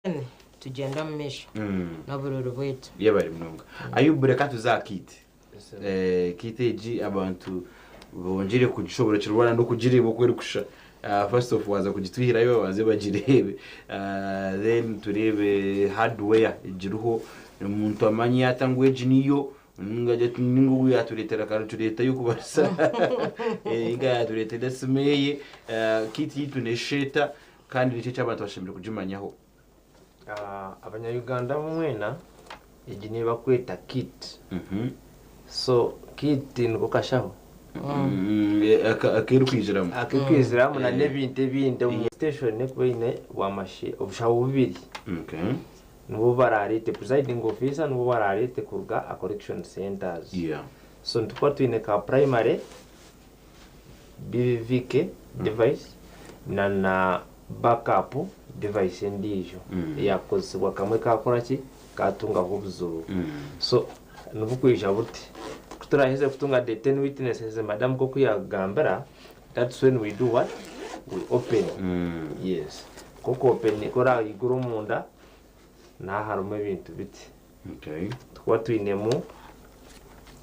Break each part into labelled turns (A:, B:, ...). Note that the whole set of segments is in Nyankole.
A: Then tugyende omu maisho n'oburori bwaitu. Yeba ari munonga.
B: Ayubu reka tuze aha kit. Eh, kit egi abantu bongire kugishoborokirwa na n'okugireeba oku erikushusha. Ah, first of waaza kugitwihirayo babanze bagireebe. Ah, then tureebe hardware egiriho. Omuntu amanye ata ngu egi niyo ninga gye tu- ninga ogu yaatureetera akaritureeta y'okubaasa. Eh, ninga yaatureetera esimu eye. Ah, kit yaitu n'eshusha eta? Kandi niki eki abantu bashemereire kugimanyaho? Abanya
C: Uganda mwena egi neyi bakweta kit so kit niko kashaho
B: akerikwiziramu akerikwiziramu na nebintu
C: ebindi omu station ekuba eyine bwamashe obushaho bubiri nibwo bararete presiding officer nibwo bwararete kuruga aha correction centers so nitukuba twine ka primary bibibike device na na back up device endiijo eyakukozesibwa kamwe kakora ki katungaho obuzibu so nibukwija buti kuturaheza kutunga the ten witnesses madam nkoku yagambira that's when we do what we open yes koku opening koraigura omunda naha harimu ebintu biti. Tukuba twinemu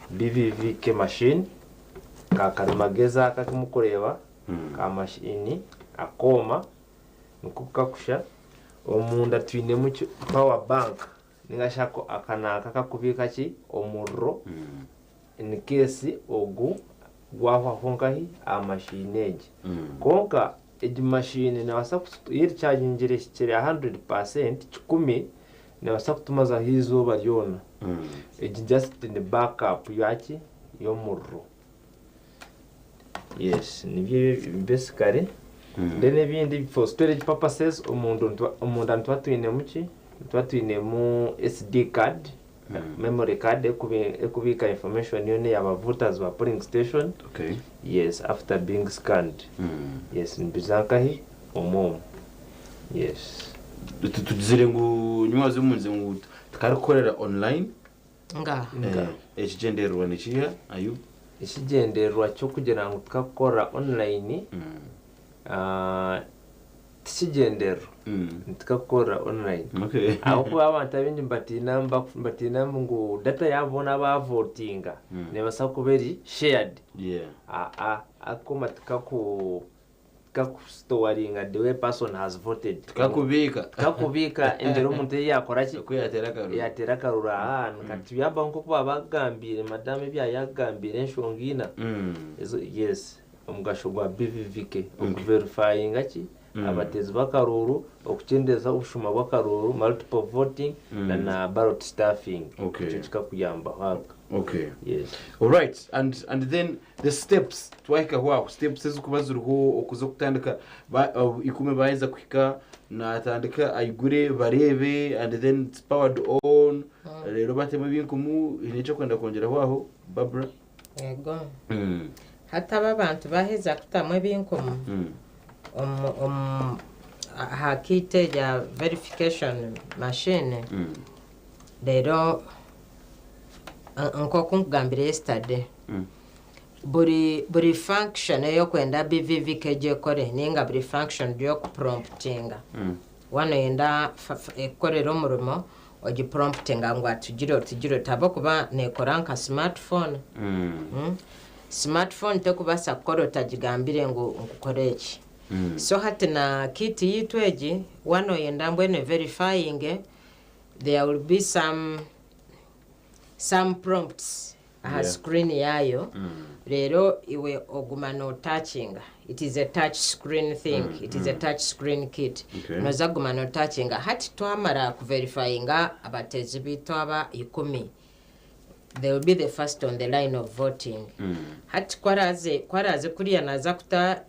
C: BVVK machine, ka karimagezi aka aku mukureeba, ka machine, akooma nikwo ku kakusha. Omunda twinemu ki power bank ninga shi ako aka ni ako akakubiika ki omuriro In case ogu gwahwaho nkahi aha machine egi. Kwonka egi machine nebasa kutu yo erikyagingire ehikire aha hundred percent kikumi nebasa kutumazaho izooba ryona. Egi just ni back up yaki yomuriro. Yes nibyo ebyo basically then ebindi for storage purposes omundu omunda nituba twinemu ki? Nituba twinemu SD card memory card ekubiika information yoona eya ba voters ba polling station yes after being scanned yes nibiza nkahi omwoomu yes tugizire
B: ngu nyowe haza omunze ngu tikarikukorera online ngaha
A: ekigyendererwa
B: nikiha Ayub? ekigyendererwa
C: kyokugira ngu tikakukorera online ti kigyendererwa nitukira kukorera online ahabw'okuba abantu abaingi nibatiina nibatiina ngu data yaabo boona abaavotinga neebaasa kuba eri shared. Ako matikaku tikakusitowaringa the way a person has voted. Tikakubiika. Tikakubiika engyeri omuntu ei yaakora ki? Oku yaateera akaruru. Yaateera akaruru aa nka tibyabaho nk'oku baabakugambiire madamu ebi yaayakugambiire enshonga ina ezo yes. Omugasho gwa BVVK okuverifayinga ki abateezi b'akaruuru, okukyendeeza obushuma bw'akaruuru, multiple voting, na na ballot stuffing. Ekyo kikakuyambaho abka. Okay. Yes. Alright.
B: And, and then the steps twahikaho aho steps ezikuba ziriho okuza okutandika ba, uh, ikumi baheza kuhika natandika aigure bareebe and then it's powered on rero batemu ebinkumu hiine ekyokwenda kwongyeraho aho Barbara Yego.
A: Hati abo abantu baaheza kutamu ebinkumu omu- omu- aha kiiti erya verification machine reero eh, nk'oku nkugambire yesterday buri buri function ey'okwenda BVV kegi ekore ninga buri function ry'okupromputinga waana oyenda fa- fa- ekukorere omurimo ogi promptinga ngu atugire oti gire oti ahabw'okuba neekora nka smart phone. Smart phone tekubaasa kukora otagigambire ngu kora eki. So hati na kit yaitu egi waaba nooyenda mbwenu everifyinge, there will be some some prompts aha screen yaayo reero iwe oguma no touchinga it is a touch screen thing it is a touch screen kit noza kuguma no touchinga hati twamara ku verifyinga abateezi baitu aba ikumi they will be the first on the line of voting hati ku araaze ku araaze kuriya naaza kuta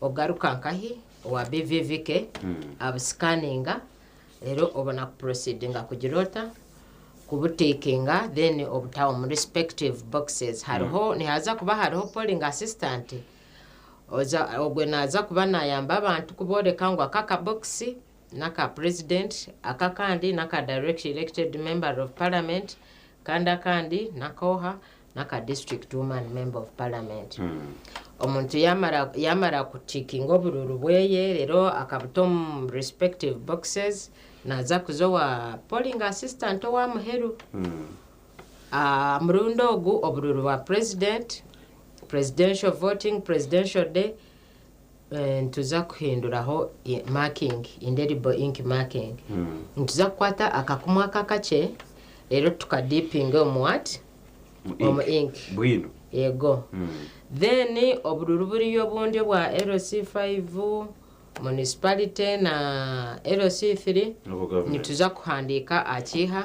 A: Ogaruka nkahi owa BVVK abusikaninga reero obona ku proceedinga kugira ota? Kubutikinga then obutaha omu respective boxes. Hariho, nihaza kuba hariho polling assistant oza ogwe naza kuba nayamba abantu kuboreka ngu aka aka box naka president, aka akandi naka direct elected member of parliament, kandi akandi naka oha, n'aka district woman and member of parliament omuntu yamara yamara kutikinga obururu bweye rero akabuta omu respective boxes naza kuza owa polling assistant owa muheru Ah, murundi ogu obururu bwa president presidential voting presidential day Nituza kuhinduraho marking, indelible ink marking. Nituza kukwata akakumu aka akakye reero tuka dippinge omu what? Omu ink. Bwino.
B: Yego.
A: Then obururu buriyo obundi obwa LC five, municipality na LC three. Nituza kuhandiika aha kiiha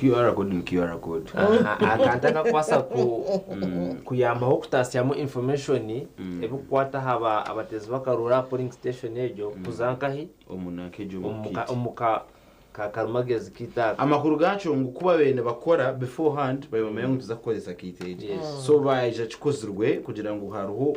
B: QR code ni QR code. Akantu
C: akakubaasa kuyambaho kutatsyamu information erikukwata aha bateezi b'akaruru aha polling station egyo kuza nkahi? Omu
B: ka
C: karimagezi kaitu aka. Amakuru gaakyo ngu ku
B: baabaire nibakora beforehand, baabaire nibamanya ngu nituza kukoresa kaita egi. So baija kikozirwe kugira ngu hariho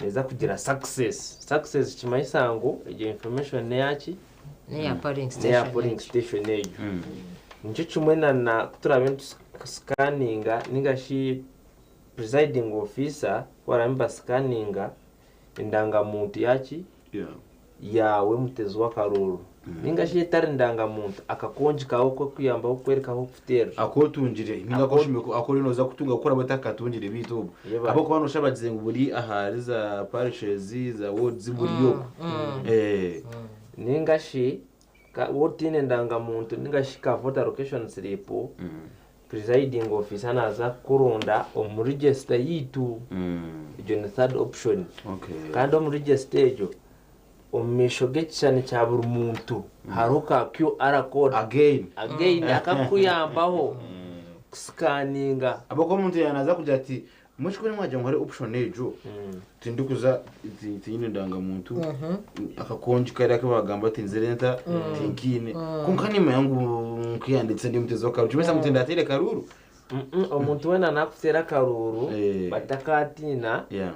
C: Neza kugira success. Success nikimanyisa ngu egyo information neyaki? Neya
A: polling station egyo.
C: Nikyo kimwe na ku turaabe nitusikaninga ninga shi presiding officer ku baraabe nibasikaninga endangamuntu yaki? yaawe, mutezi w'akarooro, ninga shi etari ndangamuntu, akakongi kaawe k'okuyambaho kukwereka ahu kuteerera. Aku otungire ninga
B: aku oshemeriire ku- aku oriyo nooza kutunga ahakuba oraba otakakatungire beitu obwo Yeba. ahabw'okuba nooshabagize ngu buri ahari za parishes, za wards buri oku. Eh. Ninga
C: shi Ka- Waaba otaine ndangamuntu ninga shi ka voter location slip, presiding officer naaza kukuronda omu register yaitu. Egyo ni third option. Okay. Kandi omu register egyo, omu maisho g'ekishushani kya buri muntu hariho ka QR code. Again. Again, akakuyambaho kusikaninga. Ahabw'okuba omuntu
B: yaaza kugira ati Mwishiki wenyu mwagira ngu hariho option egyo tindikuza ti- tinyine ndangamuntu akakongi kari aku bagamba ati nzire nta tinkiine kwonka nimanya ngu nkiyandikise ndi mutezi w'akaruuru kimenyesa ngu tindateire karuuru Mm-mm, omuntu
C: weena nakuteera akaruuru Eh. but takatiina Yeah.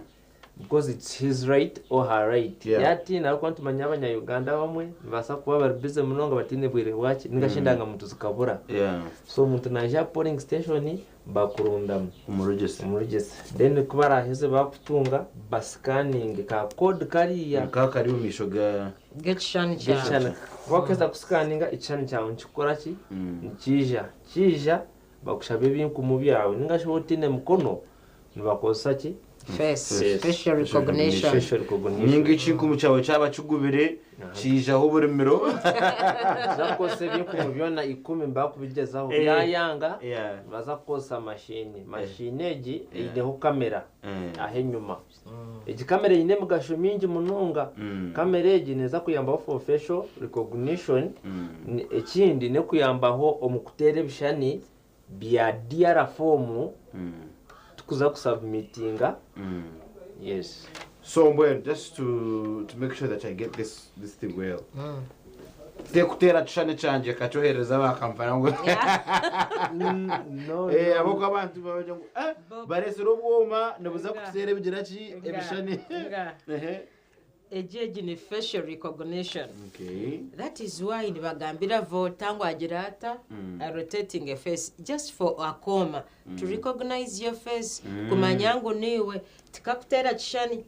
C: because it's his right or her right Yeah. yatiina ahabw'okuba nitumanya abanya-uganda abamwe nibabaasa kuba bari busy munonga bataine bwire bwaki ningashi endangamuntu zikabura Yeah. so omuntu naija aha polling station bakurundamu. Omurugyisa.
B: Omurugyisa. Then ku
C: baraaheze baakutunga ba scanning ka code kariya. Ka kari omu maisho ga.
B: G'ekishushani kyawe.
A: G'ekishushani. Ku bakuheza ku
C: scanninga ekishushani kyawe nikikora ki? Nikiija. Kiija bakushabe ebinkumu byawe. Ninga shi waaba otaine mikono, Nibakozesa ki? Face, Face, facial facial
A: recognition. Facial recognition. Ninga
B: ekinkumu kyawe kyaba kigubire, kiijaho oburimiro. Nibaza
C: kukozesa ebinkumu byona ikumi bakubigyezaho Eh. byayanga, Yeah. nibaza kukozesa mashiini. Mashiini egi eineho kamera Eh. ah'enyima. Egi kamera eine emigasho mingi munonga. Mm. Kamera egi neeza kuyambaho for facial recognition, Mm. ni- ekindi n'okuyambaho omu kuteera ebishushani Bya DR Foomu tikuza ku submitinga yes. So mbwenu
B: just to to make sure that I get this this thing well tekuteera kishushani kyangye kakyoherereza aba Kampala ngu No, eh no.
C: ab'oku abantu bagira ngu
B: eh Bo- bareetsire obwoma nibuza kuteera ebigira ki ebishushani Nga. ehe. Egi
A: egi ni facial recognition that
B: is why
A: nibagambira voter ngu agire ata a rotating a face just for akooma to recognize your face kumanya ngu niiwe tikakuteera kishani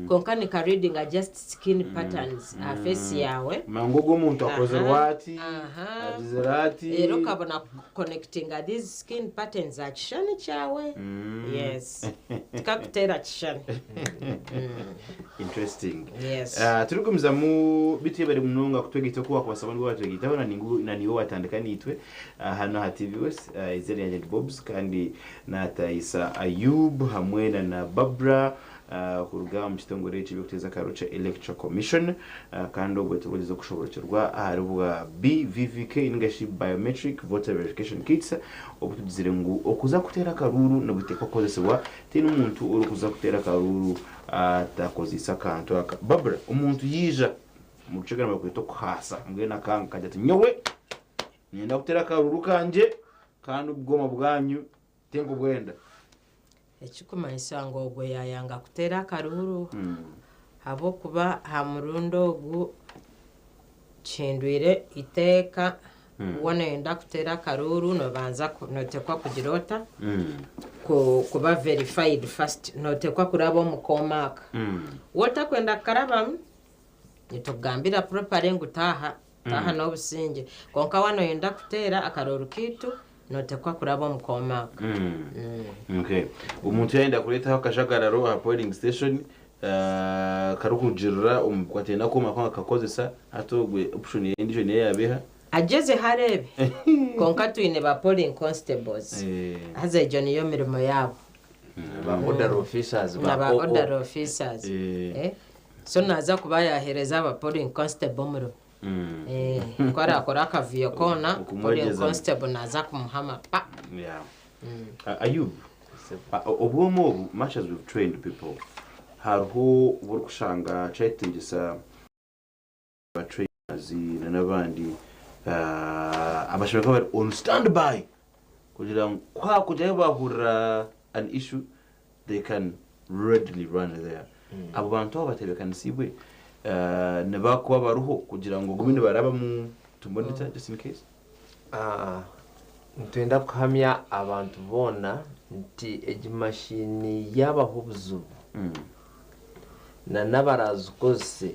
A: kwonka nika readinga just skin patterns aha face yaawe aha
B: aha reero okabona
A: Connectinga these skin patterns aha kishushani kyawe. Yes. Tikakuteera kishushani.
B: Interesting. Yes. Ah,
A: turikugumizamu
B: bitwebare munonga kutwegaita oku wakubasa ngu watwegaitaho na ningu na niiwe watandika naitwe ah, hanu aha TV West. Ah, izina ryangye ni Bobs kandi natayisa Ayub hamwe na na Barbara kuruga omu kitongore eky'eby'okuteeza akariro kya Electoral Commission kandi obwe turikugyeza kushoboorokyerwa ahari bwa BVVK ninga shi Biometric Voter Verification Kits obu tugizire ngu okuza kuteera akaruuru nibuteekwa kukozesibwa tihaine omuntu orikuza kuteera akaruuru atakozeise akantu aka. Barbara, omuntu yaija omu Rukiga nibakweta okuhaasa mbwenu akanga akagira ati nyowe niinyenda kuteera akaruuru kangye kandi obwoma bwanyu Tenga obwenda.
A: Ekikumanyisa ngu ogwo yayanga kuteera akaruuru ahabw'okuba aha murundi ogu kihindwire iteeka ku woona oyenda kuteera akaruuru nobanza notekwa kugira ota kuba verified first notekwa kuraba omu kooma aka wotakwenda kukarabamu nitukugambira properly ngu taaha Aha n'obusingye. Kwonka waaba nooyenda kuteera akaroori kaitu, nooteekwa kuraba omu Comac.
B: Okay. Omuntu yaayenda kureetaho akajagararo aha polling station ah, karikurugiirira omu ku ateenda Comac ngu akakozesa, hati ogwe option ye endiijo niyo yaaba eha? Agyezeho areebe.
A: Kwonka twine ba polling constables. Eh. Haza egyo niyo mirimo yaabo. Ba
C: order officers, ba Na ba OO. order
A: officers. Eh. Eh. So naaza kuba yaaheereza aba polling constable omuro. Eeh, ku araakora akavuyo koona, polling Okumwegyezamu. constable naaza kumuha amapa. Yeah.
B: Ah, Ayub, ah, o- obwoma obu, much as we've trained people, hariho obu orikushanga kyayetengyesa ba trainers n'abandi abashaija bakaba bari on stand by kugira ngu kuhakugira ahi bahurira an issue they can readily run there. Abo bantu abo batebekanisiibwe nibakuba bariho kugira ngu bagume nibarabamu to monitor just in case?
C: Nitwenda kuhamya abantu boona nti egi mashini yaabaho obuzibu, nanabarazikozese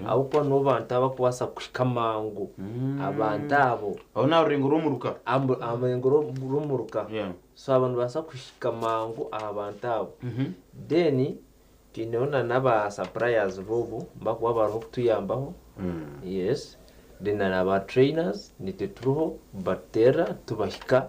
C: ahabw'okuba nibo bantu abarikubaasa kuhika amangu abantu abo. Aho ni aha rurengo rw'omuruka.
B: Aha murengo
C: rw'omuruka. So abo nibabaasa kuhika mangu aha bantu abo. Then twineho na n'aba suppliers boobu abarikuba bariho kutuyambaho. Yes. Then hariho aba trainers, nitwe turiho kubateerera tubahika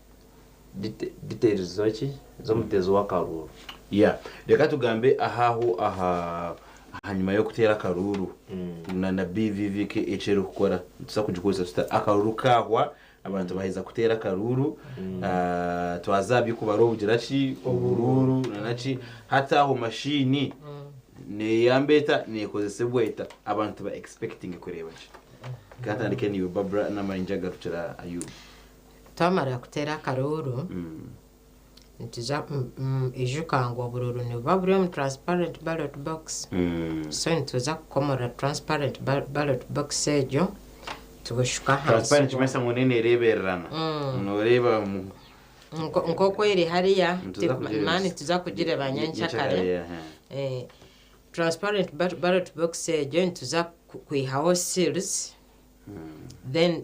C: biteerizwa ki z'omuteezi w'akaruuru. Yeah reka
B: tugambe ahaho aha ahanyima y'okuteera akaruuru na na BVV eki erikukora nitubaasa kugikoresa tuta akaruuru kaahwa abantu baaheza kuteera akaruuru twaza aha by'okubara obugira ki oburuuru na na ki hati aho mashiini neeyamba eta neekozesibwa eta abantu ba expectinge kureeba ki? Katandike naiwe Barbra n'amayingye agarukire aha Ayub. Twamara
A: kuteera akaruuru, nituza, ijuka ngu oburuuru nibuba buri omu transparent ballot box. So nituza kukomorora transparent ballot box egyo, tubushuka ahansi. Transparent nikimanyisa ngu neena
B: ereebererana. Nooreeba mu.
A: Nk'oku eri hariya, mani nituza kugireeba nyenkya kare. Transparent ballot box egyo nituza kwihaho seals, then.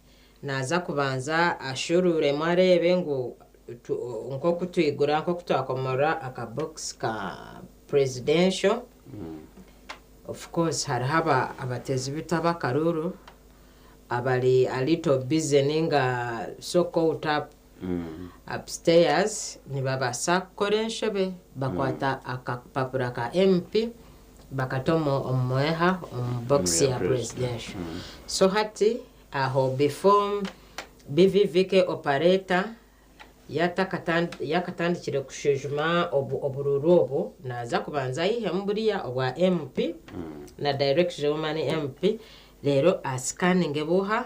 A: naaza kubanza ashuuruuremu areebe ngu nk'oku twigura nk'oku twakomorora akabokisi ka Presidential, of course hariho abatezi bita b'akaruru abari a little busy ninga so caught up Upstairs nibabaasa kukora enshobe bakwata akapapura ka MP bakata omu mweha omu box ya presidential so hati aho before BVVK operator yaakatandikire kushwijuma oburuuru obu naaza kubanza aihemu buriya obwa MP na direction y'omu mani MP reero a scanninge buuha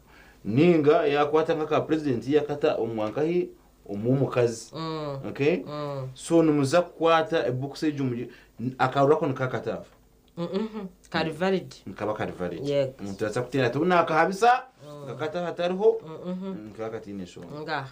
B: ninga yakwata nk'aka president yakata omu nkahi omu omukazi okay so nimuza kukwata ebooks egyo mu akarura ako nikakata afa Mhm.
A: kari valid nikaba kari
B: valid Yego. omuntu naza kuteera ati obu nakahabisa nkakata hatariho nkakatiine eshonga ngaha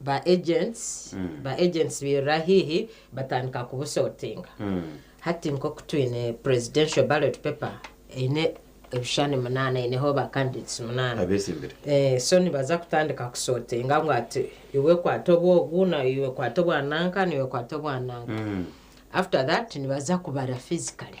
A: Ba agents ba agents bairura haihi batandika kubusortinga. Hati nk'oku twine presidential ballot paper eine ebishushani munaana eineho ba candidates munaana. Abeesimbire. Eh, so
B: nibaza
A: kutandika kusortinga ngu ati iwe kwata obu ogu na iwe kwata obwa nanka na iwe kwata obwa nanka. After that nibaza kubara physically.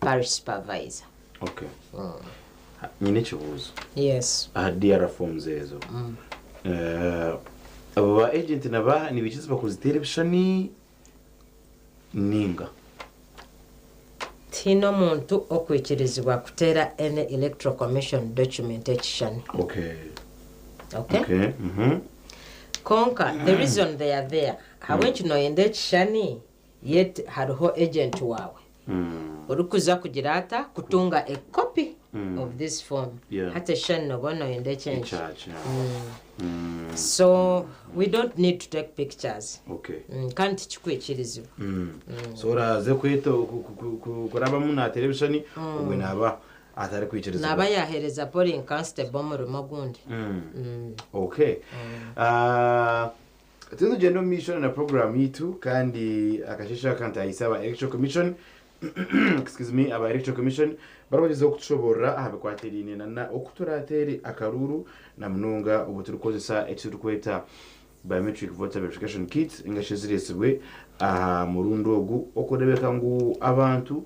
A: parish supervisor.
B: Okay. Nyine ekibuuzo. Yes. Aha
A: DR forms
B: ezo, abo ba agent na baaha nibaija iziba kuziteera ebishushani nainga?
A: Tihaine omuntu okwikirizibwa kuteera any electoral commission document ekishushani. Okay.
B: Okay? Okay.
A: Kwonka the reason they are there, ahabw'enki nooyenda ekishushani Yet hariho agent waawe orikuza kugira ata kutunga a copy of this phone hati ekishushani noba oine oyenda ekyenki so we don't need to take pictures kandi
B: tikikwikirizibwa
A: so
B: oraze kurabamu natera ebishushani obwe naba atarikwikirizibwa naba yahereza polling
A: constable omurimo ogundi ok.
B: Turiyo nitugyenda omu maisho na puroguraamu yaitu kandi akasheeshe aka ntaayise aba Electoral Commission excuse me, aba Electoral Commission barikugyezaho kutushoboorora aha bikwatiraine na oku turaateere akaruuru na munonga obu turikukozesa eki turikweta Biometric Voter Verification Kit engashi ezireetsirwe aha murundi ogu okureebeka ngu abantu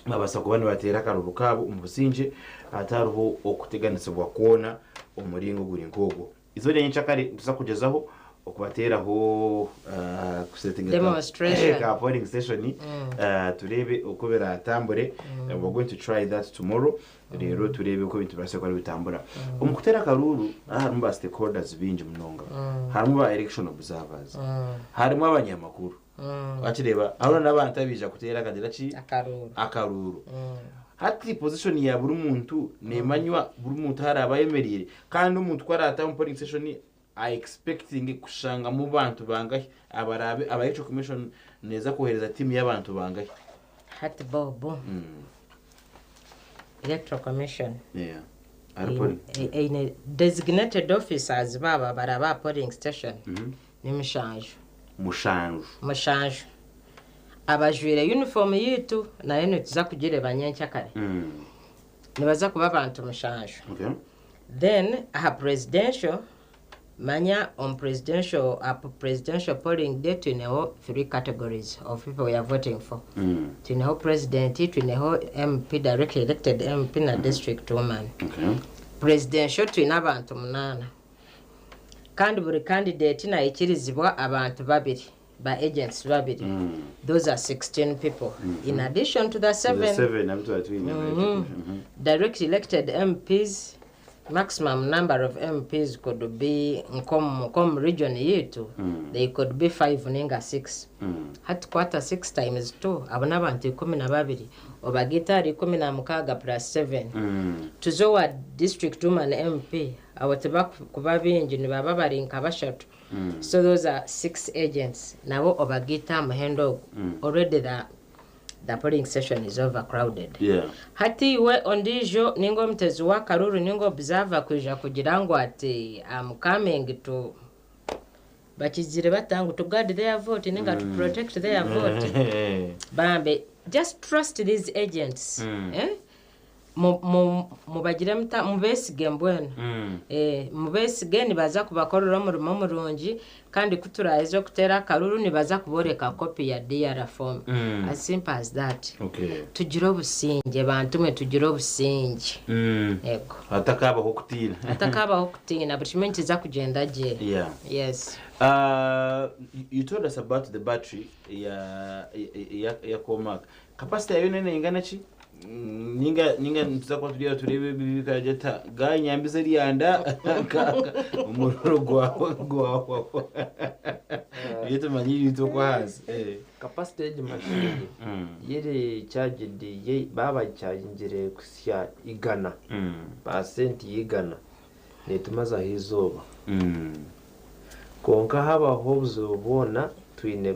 B: nibabaasa kuba nibateera akaruuru kaabo omu busingye hatariho okuteganisibwa kwona omu muringo oguri nk'ogwo. Eizooba rya nyenkya kare nituza kugyezaho okubateeraho kuseetinga ka
A: polling station
B: tureebe oku biraatambure, we are going to try that tomorrow reero tureebe oku ebintu birabaase kuba nibitambura. Omu kuteera akaruuru harimu ba stakeholders baingi munonga. Harimu ba election observers, harimu abanyamakuru, Wakireeba? Hariho n'abantu abaija kuteera akagira ki? Akaruuru. Akaruuru. Hati position ya buri muntu neemanywa buri muntu ahu araabe ayemereire. Kandi omuntu ku araataha omu polling station a expectinge kushangamu bantu bangahi abaraabe aba electoral commission neeza kwohereza tiimu y'abantu bangahi? Hati
A: Bob, electoral commission Yeah.
B: Hari polling.
A: eine designated officers baabo abaraabe aha polling station Ni mushanju. Mushanju. Mushanju. Abajwaire yunifoomu yaitu nayo nituza kugireeba nyenkya kare. Nibaza kuba abantu mushanju. Okay.
B: Then
A: aha presidential, manya omu presidential, aha presidential polling day twineho three categories of people we are voting for. Twineho president, twineho MP, directly elected MP, na district woman. Okay.
B: Presidential
A: twine abantu munaana. Kandi buri candidate nayikirizibwa abantu babiri, ba agents babiri. Those are 16 people in addition to the seven Seven abu twari twine ba education. Mhm. directly elected MPs. Maximum number of MPs could be nkomu nkomu region yitu, they could be five ninga six. Hati kwata six times two, abo n'abantu ikumi na babiri, obagaite ahari ikumi na mukaaga plus seven. Tuze owa district woman MP Abo tibakuba baingi nibaba bari nka bashatu so those are six agents nabo obagaita aha muhendo ogu already the the polling station is over crowded Yeah. hati
B: iwe
A: ondiijo ninga omutezi w'akaruru ninga observer kwija kugira ngu ati am coming to bakigizire bata ngu to guard their vote ninga to protect their vote bambi just trust these agents eh? Mu- mu- mubagire muta mubesige mbwenu Mm. Eh, mubesige nibaza kubakorera omurimo murungi kandi ku turaheza okuteera akaruru nibaza kuboreka kopi ya dr form Mm. as simple as that Okay. tugire
B: obusingye
A: bantu mwe tugire obusingye Mm. ego hatakabaho
B: okutiina atakabaho kutiina buri kimwe nikiza
A: kugyenda gye Yeah. yes
B: Uh, you told us about the battery ya ya, ya, ya Comac. Capacity yayo nene ingana ki? ninga ninga nituza kuba turiyo tureeba ebibi bikaragye ta gayi nyambize ryanda omuriro gwawe gwahwaho ebyo tumanye ibintu okwo ahansi eh. kapasite y'egi
C: mashini Mm. yiri kyagidi ye baabagikyagingire kusya igana Mm. paasenti y'igana neetumazaho eizooba Mm. kwonka habaho obuzibu bwona twine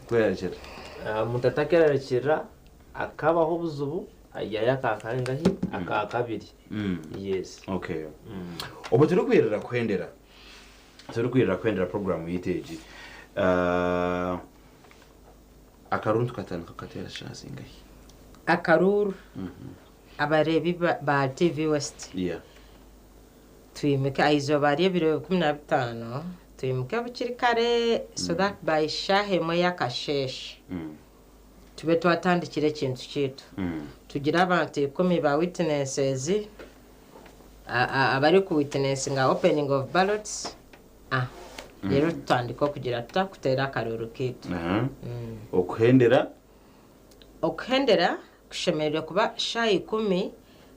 B: kwerarikira. Omuntu
C: atakwerarikirira akabaho obuzibu ayihayo akakangahi? Akakabiri. Yes. Okay.
B: Obwe turikwirira kuhendera, turikwirira kuhendera program yaitu egi. Akaruuru nitukatandiika kukateera shaaha zingahi? Akaruuru
A: abareebi ba TV West. Yeah. Twimuke aha izooba ry'ebiro ikumi na bitaano, twimuke bukiri kare so that by shaaha emwe ey'akasheeshe tube twatandikire ekintu kyaitu. Tugire abantu ikumi ba witnesses abari ku witnessinga opening of ballots reero tutandike okugira tuta? Kuteera akaruuru kaitu. Okuhendera? Okuhendera Kushemereire kuba shaaha ikumi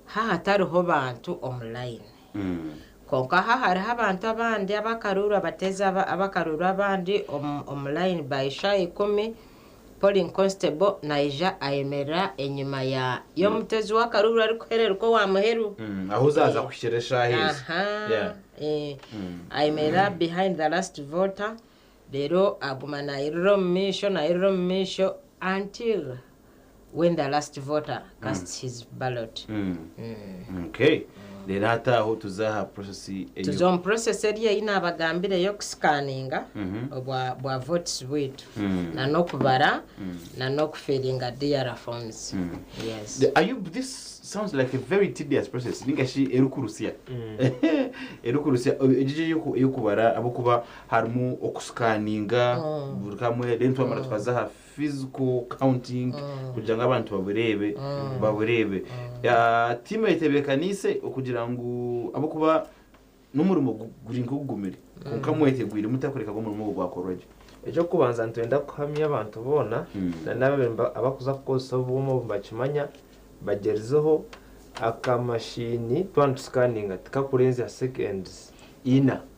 A: ha hatariho bantu omu layini. Kwonka ha hariho abantu abandi abakaruurwa bateeze abakaruurwa abandi omu layini by shaaha ikumi, polling constable naija ayemerera enyima y'omutezi w'akaruurwa arikuhererukwo owa muheru. Ahu zaaza
B: kuhikira eshaaha ezo.
A: Ayemerera behind the last voter. Reero aguma naayirira omu maisho, naayirira omu maisho until when the last voter casts his ballot. Okay.
B: Reero hati aho tuza aha process eyo. Tuza omu process
A: eri ei naabagambira ey'okusikaninga obwa bwa votes bwaitu na n'okubara na n'okufiringa DR forms. Yes. Ayub, this
B: sounds like a very tedious process ninga shi erikurutsya. Erikurutsya. Egyo egyo ey'oku- ey'okubara ahabw'okuba harimu oku scanninga buri kamwe then twamara tukaza aha physical counting kugira ngu abantu babureebe babureebe Ah, tiimu etebekaniise okugira ngu ahabw'okuba n'omurimo gu- guri nk'ogugumire kwonka mwetegwire muta kureka ngu omurimo ogwo gwakorwa gye Eky'okubanza
C: nitwenda kuhamya abantu boona Mm. na n'abo niba- abakuza kukozesa obwoma obu nibakimanya bagyerizeho akamashiini twaba nitusikaninga tikakurenzya seconds ina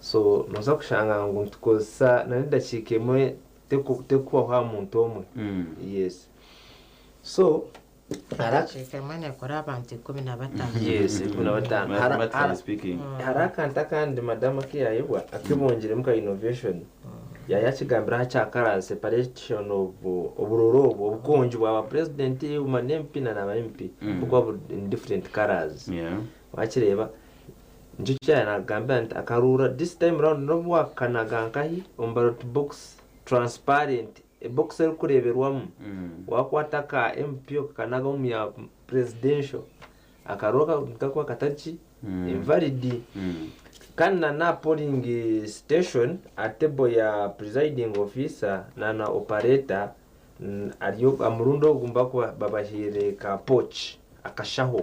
C: so noza kushanga ngu nitukozesa nana edakiika emwe terikuhwaho aha muntu omwe yes so edakiika
A: emwe nekora abantu ikumi na
C: bataano yes ikumi na bataano hariho
B: akantu akandi
C: madamu akeyayebwa akebongiremu ka innovation yaya akigambiraho aha kya color separation of oburoro obwo obukongi bwa ba president nana MP nana ba MP bukuba buri in different colors Wakireeba? Nikyo ki yaaba naagambira nti akaruurra this time round n'obu waakanaga nkahi omu ballot box transparent, ebokisi erikureeberwamu, waakwata aka MP okakanagaho omu ya presidential, akaruha nikakuba katari ki, invalid. Kandi na n'aha polling station, aha table ya presiding officer na na operator, ari omu murundi ogu nibakuba babahaire ka pouch, akashaho.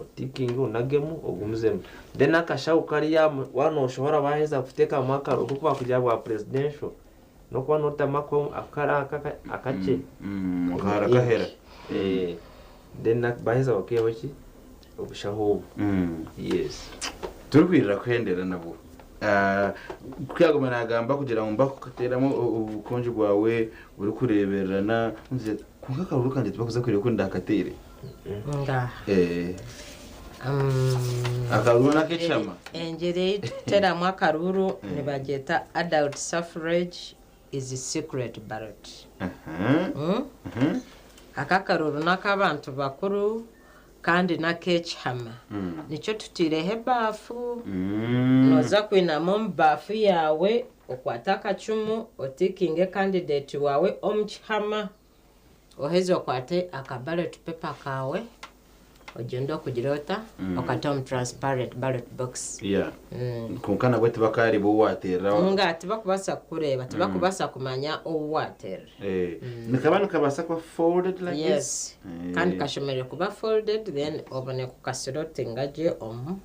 C: Otikinge onagemu ogumizemu. Then akashaho kari amu waaba nooshoha oraba waaheza kuteekamu akaro oku kubakugira bwa presidential n'okuba nootamu ako akaro aka aka akakye. Akahara
B: kahera. Eh,
C: then baaheza bakaihaho ki? Obushaho obwo. Yes. Turikuhurira
B: kuhendera nabwo. Ah, ku yaaguma naagamba kugira ngu mbakukateeramu o- obukonjo bwawe orikureebererana, kwonka akahuuru kangye tibakuza kureeba oku ndaakateire. Engyeri ei
A: turikuteramu akaruuru nibagyeta Adult Suffrage is Secret Ballot. Aka akaruuru n'ak'abantu bakuru kandi n'ak'ekihama. Nikyo tuteireho ebaafu, nooza kwinamu omu baafu yaawe, okwate akacumu, otikinge kandideeti waawe omu kihama. Oheza okwate aka ballot paper kawe ogyende okugira ota okate omu transparent ballot box. Yeah. Kwonka
B: nabwe tibakaareba ou waaterera. Nga tibakubaasa
A: kukureeba, tibakubaasa kumanya ou waaterera. Eh. Nikaba
B: nikabaasa kuba folded like this? Yes. Kandi
A: kashemereire kuba folded then obone kukasirotinga gye omu.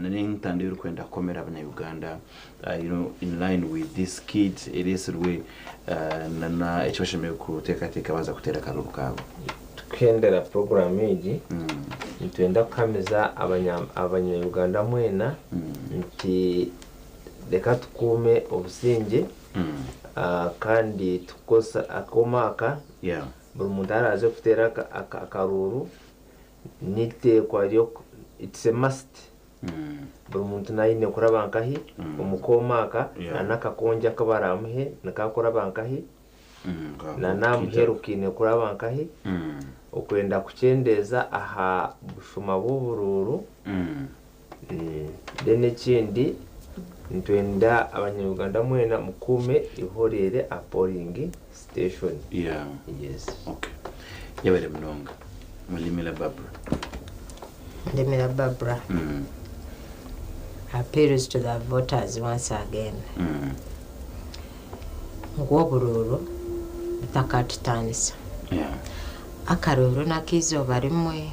B: na n'entanda erikwenda kukomera abanya Uganda you know in line with this skit eresirwe na na eki bashemereire kutekateka baza kutera akabibu kabo. Tukihendera
C: puroguramu egi, nitwenda kuhamiza abanya Uganda mwena nti reka tukuume obusingye kandi tukukozesa akooma aka buri muntu araaze kuteera akaruuru N'eiteekwa ry'oku, it's a must, buri muntu naaba aine kuraba nkahi omu kooma aka, na n'akakongi aku baraamuhe nikaakuraba nkahi, na n'aha muheru kaine kuraba nkahi, okwenda kukyendeeza aha bushuma bw'oburuuru Then ekindi nitwenda abanyaruganda mwena mukuume eihoreere aha polling station. Yeah. Yes. Okay.
B: Yebare munonga. Mulimira Barbra.
A: Mulimira Barbra. Mm. Appeals to the voters once again. Mm. ngu oburuuru butakatutaanisa. Akaruuru n'ak'eizooba rimwe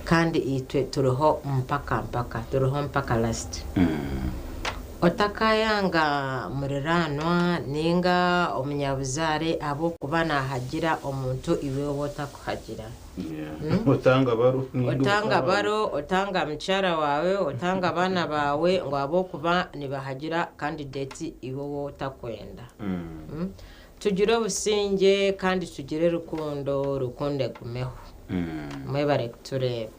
A: kandi itwe turiho mpaka mpaka, turiho mpaka last. Otakaayanga muriraanwa nainga omunyabuzaare ahabw'okuba naahagira omuntu iwe ou otakuhagira. Otanga baro, otanga mukyara waawe, otanga abaana baawe ngu ahabw'okuba nibahagira kandideti iwe ou otakwenda. Tugire obusingye kandi tugire rukundo, rukundo egumeho. Mwebare
B: kutureeba.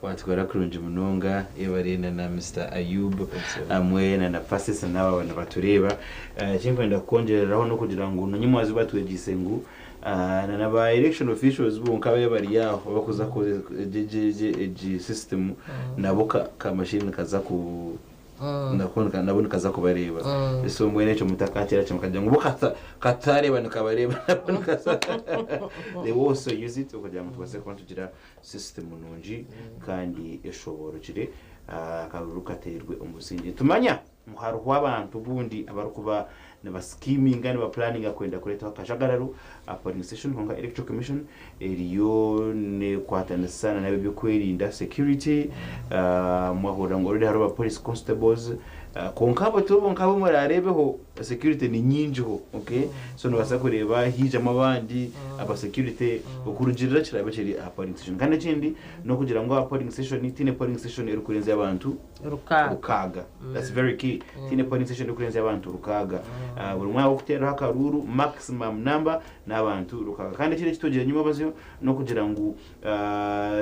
B: Watwara kurungi munonga ebare na na Mister Ayub hamwe na na Persis na abo nibatureeba ekinkwenda kukongyereraho nokugira ngu na nyamwazo batwegyeise ngu na na ba election officials bonka ababaire bari aho abakuza kukora egi system nabo ka machine nikaza ku nabo nikaza kubareeba so mbwenu ekyo mutakakira kimwe mukagira ngu bo katareeba nikabareeba nabo nikaza they also use it okugira ngu tubase kuba nitugira Sisitimu nungi kandi eshoboorokire akaruru kateirwe omusingi. Nitumanya ngu hariho abantu bundi abarikuba nibasikiiminga, nibapulaaninga kwenda kureetaho akajagararo aha Polling Station kwonka Electoral Commission eriyo nekwatanisa nana ab'ebyokwerinda, security, mwahurira ngu already hariho ba Police Constables kwonka abo tibo bonka abu muraareebeho. Security ni nyingi ho okay so nobasa kureba hijamu abandi aba security okurugirira kirabe kiri aha polling station kandi ekindi nokugira ngu aha polling station tiine polling station erikurenzya abantu rukaaga that's very key tiine polling station erikurenzya abantu rukaaga buri mwanya wokutereraho akaruuru maximum number nabantu rukaaga kandi ekindi ekitugire enyuma abazyo nokugira ngu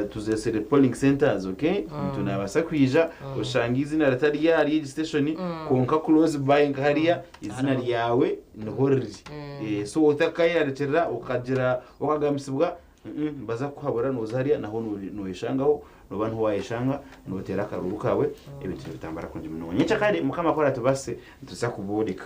B: Tuzeesire polling centres ok omuntu naabaasa kwija oshanga eiziina ritari ahari egi station kwonka close by nka hariya eiziina ryawe niho riri Eh, so otakayeerarikirira okagira okagambisibwa mm, nibaza kukuhabura nooza hariya naho no- noyeshangaho noba niho waayeshanga nooteera akaruuru kaawe ebintu nibitambura kurungi munonga nyenkya kare mukama ku aratubaasise nituza kubooreka